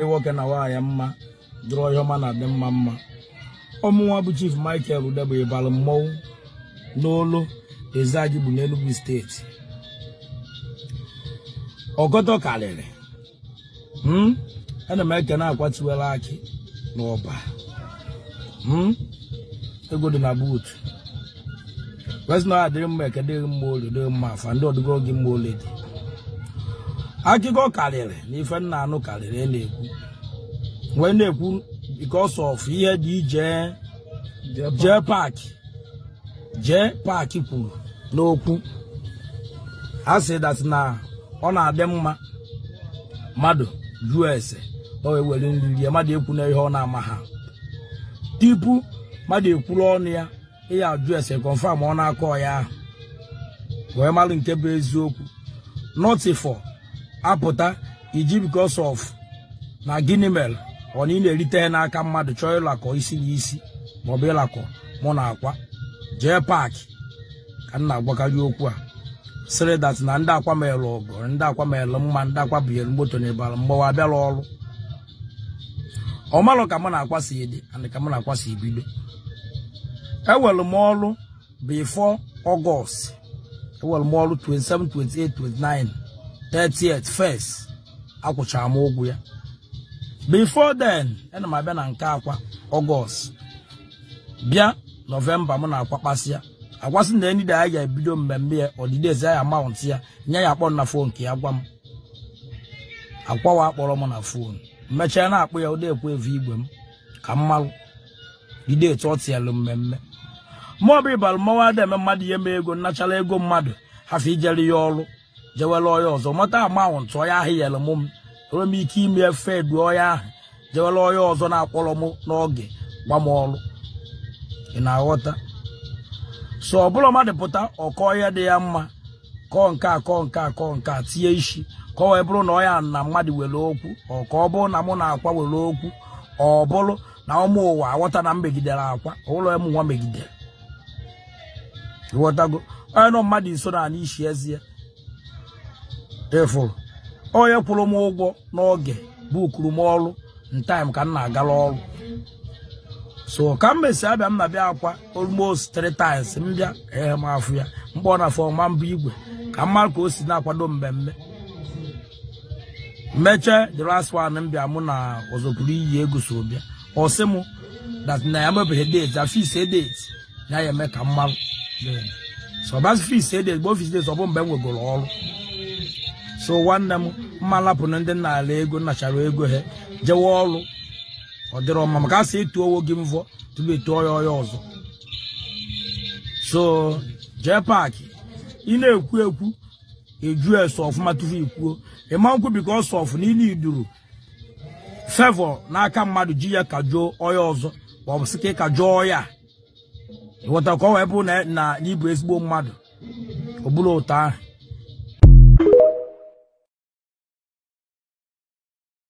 nwoke na nwaanyị mma dịrị onye ọma na adị mma mma ọ mụnwa bụ chief michael udegbi ịbalụ mmọnwụ n'olo ezeagu bụ n'enugwu steeti ọgọdọ karịrị Hmm? ana m ekene akwa tiwara akị n'ọba Hmm? ego dị na buut kwesị na ọ adịrị mma eke dịrị mma orie dịrị mma afọ ndị ọdịgo gị mma olu dị akụkọ karịrị na ife m na-anụ karịrị a na-ekwu wee na-ekwu because of ihe dị ije jee paakị jee paakị kwuru n'okwu a sị that na ọ na-adị mma mmadụ jụọ ese o wee were nri rie mmadụ ekwuna ihe ọ na-amaha tupu mmadụ ekwuru ọnụ ya ịya ajụ ese confirm ọ na-akọ ya ahụ wee mara nke bụ eziokwu nọtifọ apụta iji because of na gịnị mere ọ na ị na-erite ihe n'aka mmadụ chọọ ịlakọ isi na isi maọbụ ịlakọ mụ na akwa jee paakị ka m na-agwakarị okwu a sịrị that na ndị akwa mere ọgọ ndị akwa mere mma ndị akwa bunyere moto na ịbalụ mgbawa abịarọ ọrụ ọ malụ ka mụ na akwa si adị and ka mụ na akwa si ebido enwere m ọrụ before August enwere m ọrụ 27 28 29 30th first a kwụchara m ụgwọ ya before then ana m abịa na nke akwa August bịa November mụ na akwa kpasịa akwa sị na any day ya ga-ebido mmemme ya ọdịdị ezi ya mount ya na ya ya-akpọ m na fon nke ya gwa m akwa nwa akpọrọ m na fon mechaa na-akpọ ya ụdị ekwe evu igwe m ka m malụ jide etu ọ tịalụ mmemme maọbụ ịbalụ mmanwụ ada eme mmadụ ihe mee ego m nachara ego mmadụ hafụ ijere ya ọrụ jewere onye ọzọ mata amanwụ ntụ onye ahụ yere mụ m enwere m ike ime efe edu onye ahụ jewere onye ọzọ na-akpọrọ m n'oge gba m ọrụ ị na-aghọta so ọ bụrọ mmadụ pụta ọ kọọ ihe dị ya mma kọọ nke a kọọ nke a kọọ nke a tinye isi ka ọ wee bụrụ na ọ ya na mmadụ nwere okwu or ka ọ bụrụ na mụ na akwa nwere okwu ọ bụrụ na ụmụ ụwa aghọta na m megidere akwa ọ mụnwa megidere ịghọtago onye nọ mmadụ nso na-anụ isi eze ya ị fụrụ onye kwụrụ m ụgwọ n'oge bukuru m ọrụ in time ka m na-agara ọrụ so ka m mesi abịa m na-abịakwa almost three times m bịa ee m afụ ya mgbe ọ na-afọ ọma mbụ igwe ka m mara ka o si na-akwado mmemme mechee the last one m bịa mụ na ọzọpụrụ iyi ego so bịa ọ sị m that na ya mebeghị date a fixie date ya ya eme ka m mara so ọbasị fixie date bụ ọ fix date ọ bụ mgbe m nwegoro ọrụ so nwanne m mma lapụ na ndị nna ala ego nachara ego ha jewe ọrụ ọ dịrọ mma maka a sị etuo onwe gị mvọ tupu etuo ya onye ọzọ so jee paakị ị na-ekwu okwu ajụọ ese ọfụma tupu i kwuo ịma nkwụ because sọ ọfụ na ile iduru favour n'aka mmadụ ji ya kajọọ onye ọzọ ma ọ bụ sị ka ị kajọọ ya ịghọta ka ọ wee bụrụ na na ị bụ ezigbo mmadụ ọ bụrọ otu ahụ